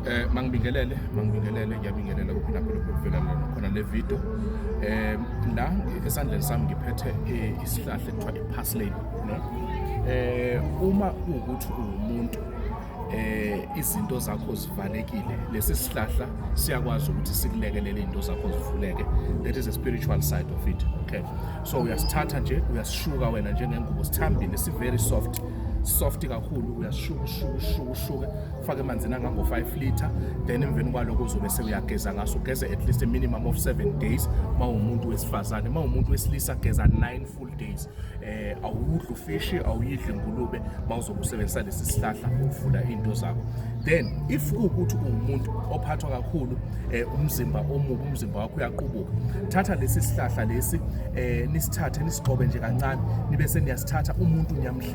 Eh mangibingelele mangibingelele ngiyabingelela kuphila phela ukuvela lana khona le video eh la esandleni sami ngiphethe eh, isihlahla ekuthiwa iparsley no eh uma ukuthi uwumuntu eh izinto zakho zivalekile lesi sihlahla siyakwazi ukuthi sikulekelele izinto zakho zivuleke that is a spiritual side of it okay so uyasithatha nje uyasishuka wena njengengubo sithambile si very soft soft kakhulu uyashuka ushuka ushuka ushuka ufake emanzini angango-5 litre then emveni kwaloko uzobe sewuyageza ngaso ugeze at least a minimum of 7 days uma uwumuntu wesifazane uma uwumuntu wesilisa geza 9 full days eh awudli ufishi awuyidli ngulube uma uzobe usebenzisa lesi sihlahla ukuvula into zakho then if kuwukuthi ungumuntu ophathwa kakhulu eh, umzimba omubi umzimba wakho uyaqubuka thatha lesi sihlahla lesi eh, nisithathe nisixobe nje kancane nibe seniyasithatha umuntu niyamhlela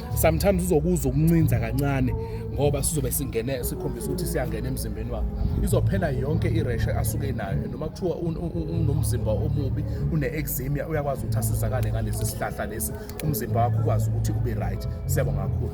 sometimes uzokuzwa ukuncinza kancane ngoba sizobe singene sikhombisa ukuthi siyangena emzimbeni wakhe izophela yonke ireshe asuke nayo noma kuthiwa unomzimba omubi une-exemia uyakwazi ukuthi asizakale ngalesi sihlahla lesi umzimba wakho ukwazi ukuthi ube right siyabonga kakhulu